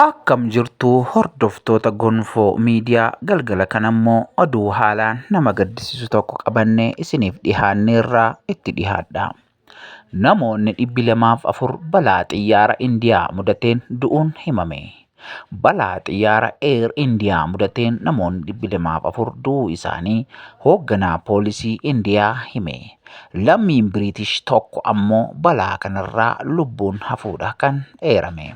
Akkam jirtu hordoftoota Gonfoo Miidiyaa galgala kana immoo oduu haalaan nama gaddisiisu tokko qabannee isiniif dhihaanneerraa itti dhihaadha. Namoonni dhibbi lamaaf afur balaa xiyyaara Indiyaa mudateen du'uun himame. Balaa xiyyaara Air Indiyaa mudateen namoonni dhibbi lamaaf afur du'uu isaanii hoogganaa poolisii Indiyaa hime. Lammiin Biriitish tokko ammoo balaa kanarraa lubbuun hafuudha kan eerame.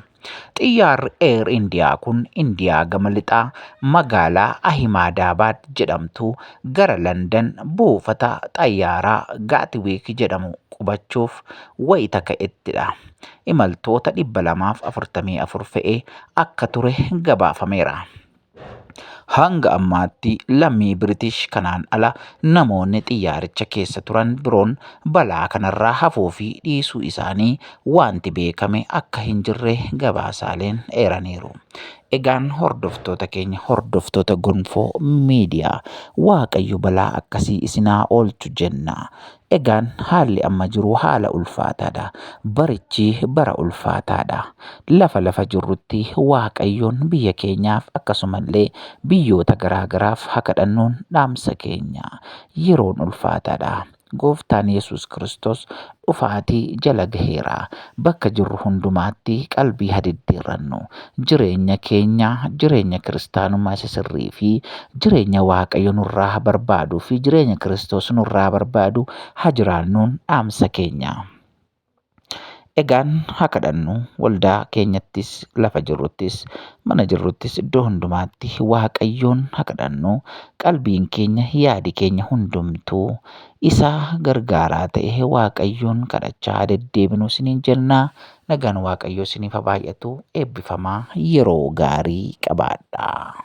Xiyyaarri Air Indiyaa kun Indiyaa gama lixaa magaalaa Ahimaadaabaad jedhamtu gara Landan buufata xayyaaraa Gaatwiik jedhamu qubachuuf wayita ka'ettidha. Imaltoota 244 fe'ee akka ture gabaafameera. Hanga ammaatti lammii Biritish kanaan ala namoonni xiyyaaricha keessa turan biroon balaa kanarraa hafuu fi dhiisuu isaanii wanti beekame akka hin jirre gabaasaaleen eeraniiru. Egaan hordoftoota keenya hordoftoota gonfoo miidiyaa waaqayyo balaa akkasii isinaa oolchu jenna. Egaan haalli amma jiru haala ulfaataadha. Barichi bara ulfaataadha. Lafa lafa jirrutti Waaqayyoon biyya keenyaaf akkasumallee biyyoota garaa garaaf haa kadhannuun dhaamsa keenya. Yeroon ulfaataadha. Gooftaan Yesuus Kiristoos dhufaatii jala gaheera. Bakka jirru hundumaatti qalbii haa diddiirrannu. Jireenya keenya, jireenya kiristaanummaa isa sirrii fi jireenya Waaqayyo nurraa barbaaduu fi jireenya Kiristoos nurraa barbaadu haa jiraannuun dhaamsa keenya. Egaan haa kadhannu, waldaa keenyattis, lafa jirruttis, mana jirruttis, iddoo hundumaatti Waaqayyoon haa kadhannu. Qalbiin keenya, yaadi keenya hundumtuu Isa gargaaraa ta'e Waaqayyoon kadhachaa haa deddeebinu isiniin jenna. Nagaan Waaqayyoo isiniif haa baay'atu. Eebbifamaa yeroo gaarii qabaadhaa.